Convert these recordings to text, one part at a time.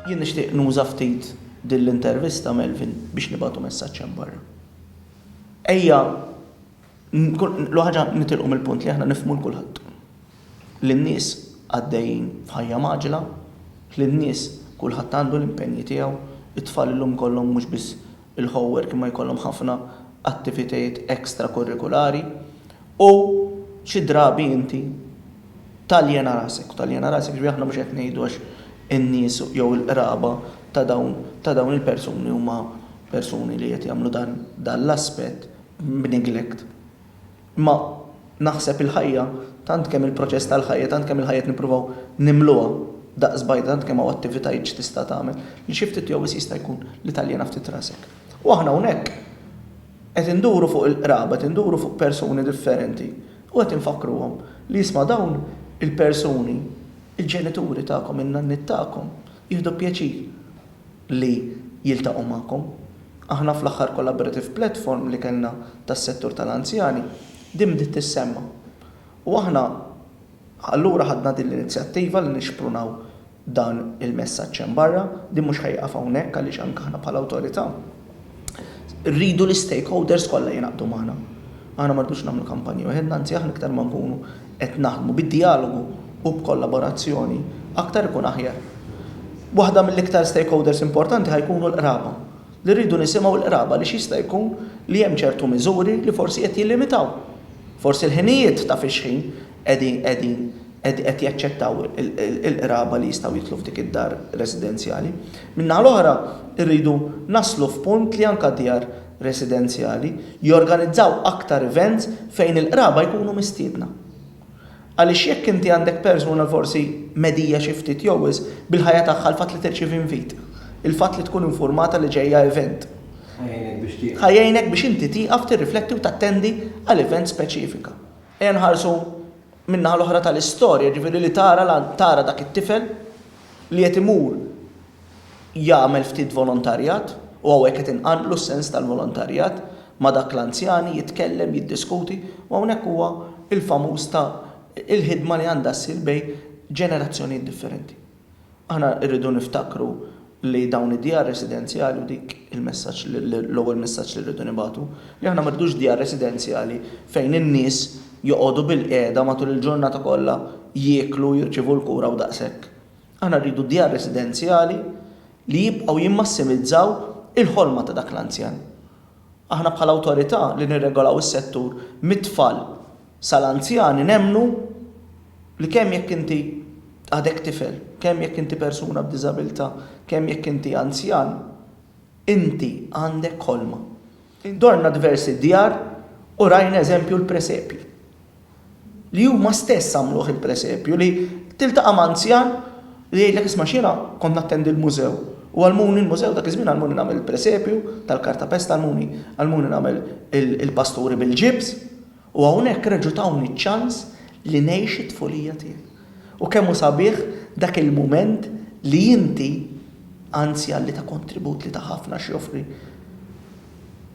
Jien nixtieq nuża ftit din l-intervista, Melvin, biex nibagħtu messaġġ hemm barra. Ejja l ħaġa nitilqu mill-punt li aħna nifhmu l-kulħadd. Li n-nies għaddejjin f'ħajja mgħaġġla, li n-nies kulħadd għandu l-impenji tiegħu, it-tfal illum kollhom mhux biss il-ħowwer kien ma jkollhom ħafna attivitajiet extra-kurrikulari u xi drabi inti taljena rasek, u taljena rasek jiġifieri aħna mhux qed ngħidu għax in-nies jew il-qraba ta' dawn ta' dawn il-persuni huma persuni li qed jagħmlu dan dan l-aspett b'neglect. Imma naħseb il-ħajja, tant kemm il-proċess tal-ħajja, tant kemm il-ħajja qed nippruvaw nimluha daqs bajda, tant kemm hawn attivitajiet x'tista' tagħmel, li xi ftit jew wisq jista' jkun li taljena ftit rasek. U aħna hawnhekk qed induru fuq il-qraba, qed induru fuq persuni differenti u qed infakkruhom li isma' dawn il-persuni, il-ġenituri tagħkom, in-nanniet tagħkom, jieħdu pjaċir. li jiltaqgħu magħkom. Aħna fl-aħħar collaborative platform li kellna tas-settur tal-anzjani, din bdiet tissemma. U aħna allura ħadna din l-inizjattiva li nixprunaw dan il-messaġġ hemm barra, din mhux ħa jieqaf hawnhekk għaliex anke aħna bħala awtorità, Irridu l-istakeholders kollha jingħaqdu magħna. Aħna ma rridux nagħmlu kampanja waħedna, anzi aħna iktar ma nkunu qed naħdmu bid-djalogu u b'kollaborazzjoni, aktar ikun aħjar. Waħda mill-iktar stakeholders importanti ħa jkunu l-qraba, li rridu nisimgħu l-qraba għaliex jista' jkun li hemm ċertu miżuri li forsi qed jillimitaw forsi l-ħinijiet ta' fix-xħin, qegħdin qegħdin qed qed jaċċettaw il-qraba li jistgħu jidħlu f'dik id-dar residenzjali. Min-naħa l-oħra rridu naslu f'punt li anke djar residenzjali jorganizzaw aktar events fejn il-qraba jkunu mistiedna. Għaliex jekk inti għandek persuna forsi medija xi ftit jew wisq bil-ħajja tagħha l-fatt li tirċievi invit, il-fatt li tkun infurmata li ġejja event, ħa jgħinek biex inti tieqaf tirrifletti u tattendi għal event speċifika. Ejja nħarsu min-naħa l-oħra tal-istorja, jiġifieri li tara l tara dak it-tifel li qed imur jagħmel ftit volontarjat, u hawnhekk qed inqanqlu s-sens tal-volontarjat, ma' dak l-anzjani, jitkellem, jiddiskuti, u hawnhekk huwa l-famuż ta' il-ħidma li għandha ssir bejn ġenerazzjonijiet differenti. Aħna rridu niftakru li dawn id-djar residenzjali u dik il-messaġġ l-ewwel messaġġ li rridu nibagħtu, li aħna ma rridux djar residenzjali fejn in-nies joqogħdu bilqiegħda matul il-ġurnata kollha jieklu, jirċievu l-kura u daqshekk. Aħna rridu djar residenzjali li jibqgħu jimmassimizzaw il-ħolma ta' dak l-anzjan. Aħna bħala awtorità li nirregolaw is-settur mit-tfal Sa l-anzjani nemmnu li kemm jekk inti għadek tifel, kemm jekk inti persuna b'diżabilità, kemm jekk inti anzjan, inti għandek ħolma. Dorna diversi djar u rajna eżempju l-presepji. Li huma stess għamluh il-presepju li tiltaqa' m'anzjan li jgħidlek isma' x'jiena kont nattendi l-mużew u għallmuni l-mużew dak iż-żmien għallmuni nagħmel il-presepju tal-kartapest għallmuni għallmuni nagħmel il-pasturi bil-ġibs. U hawnhekk reġgħu tawni ċ-ċans li ngħix it-tfulija tiegħi. U kemm hu sabiħ dak il-mument li inti, anzjan li ta kontribut li ta ħafna x'joffri,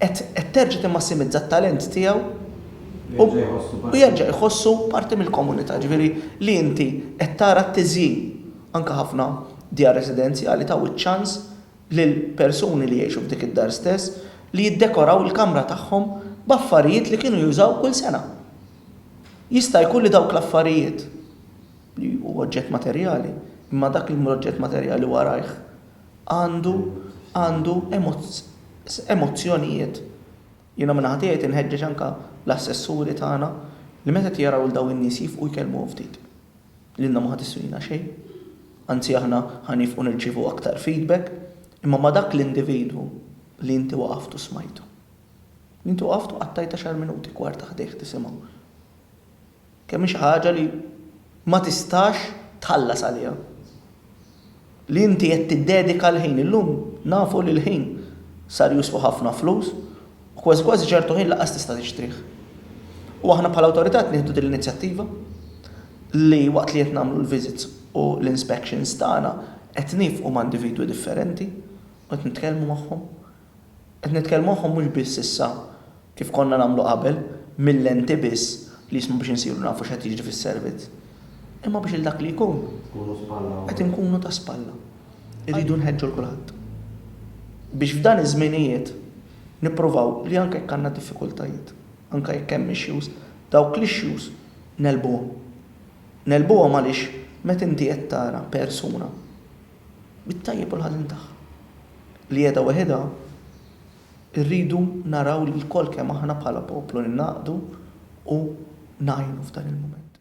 qed qed terġa' timmassimizza t-talent tiegħu u u jerġa' jħossu parti mill-komunità, ġifieri li inti qed tara t-tiżjin. Anke ħafna djar residenzjali taw iċ-ċans lill-persuni li jgħixu f'dik id-dar stess li jiddekoraw il-kamra tagħhom b'affarijiet li kienu jużaw kull sena. Jista' jkun li dawk l-affarijiet, li hu oġġett materjali, imma dak li mhu oġġett materjali warajh għandu għandu emozzjonijiet. Jiena minn naħa tiegħi tinħeġġeġ anke l-assessuri tagħna li meta qed jaraw 'l dawn in-nies jifqu jkellmuhom ftit. Lilna ma ħa tiswina xejn. Anzi aħna ħa nifqu nirċievu aktar feedback. Imma ma' dak l-individwu li inti waqaft u smajtu. Li inti waqaft u qattajt għaxar minuti, kwarta ħdejh tisimgħu. Kemm hi xi ħaġa li ma tistax tħallas għaliha. Li inti qed tiddedika l-ħin. Illum nafu li l-ħin sar useful ħafna flus u kważi kważi ċertu ħin lanqas tista' tixtrih. U aħna bħala awtorità qed nieħdu din l-inizjattiva li waqt li qed nagħmlu l-visits u l-inspections tagħna qed nifqu ma' individwi differenti u qed nitkellmu magħhom. Qed nitkellmu magħhom mhux biss issa, kif konna nagħmlu qabel, mil-lenti biss li jisma' biex insiru nafu x'qed jiġri fis-servizz, imma biex lil dak li jkun, qed inkunu ta' spalla. Irridu nħeġġu 'l kulħadd. Biex f'dan iż-żminijiet nippruvaw li anke jekk għandna diffikultajiet, anke jekk hemm issues, dawk l-issues negħlbuhom. Negħlbuhom għaliex meta inti qed tara persuna bit-tajjeb u l-ħażin tagħha, li qiegħda weħidha, irridu naraw li lkoll kemm aħna bħala poplu ningħaqdu u ngħinu f'dan il-mument.